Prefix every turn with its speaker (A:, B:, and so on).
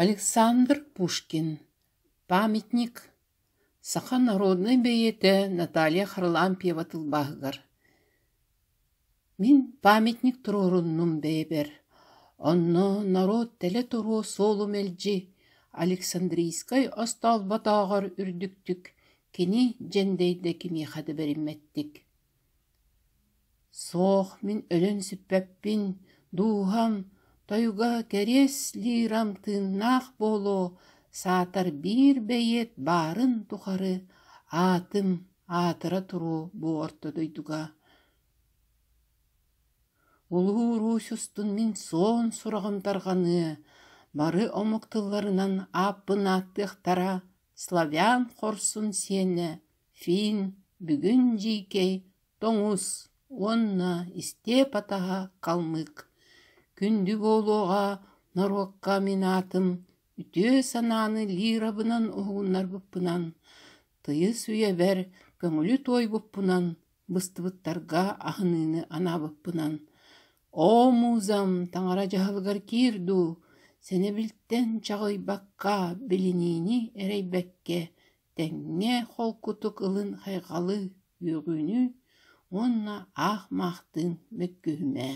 A: Александр Пушкин, памятник саха норуодунай бэйиэтэ Наталья Харлампьева тылбааһыгар Мин памятник туруоруннум бэйэбэр, онно норуот тэлэ туруо суолу мэлдьи Александрийскай остолботооҕор үрдүктүк кини дьэндэйдэ кимиэхэ да бэриммэттик Суох, мин өлөн сүппэппин, дууһам, тойуга кэриэс лирам тыыннаах буолуо, саатар биир бэйиэт баарын тухары аатым аатыра туруо бу орто дойдуга. Улуу-уруусь устун мин суон сураҕым тарҕаныа, бары омук тылларынан ааппын ааттыахтара славян хорсун сиэнэ Финн, бүгүн дьиикэй, тоҥус уонна истиэп-атаһа халмык, күндү буолуоҕа норуокка мин аатым үтүө санааны лирабынан уһугуннарбыппынан, тыйыс үйэбэр көҥүлү туойбуппунан, быстыбыттарга аһыныыны анаабыппынан, оо, муузам таҥара дьаһалыгар киир дуу, сэнэбилтэн чаҕыйбакка билиниини эрэйбэккэ тэҥҥэ холкутук ылын хайҕалы үөҕүүнү уонна аах маахтыын мөккүһүмээ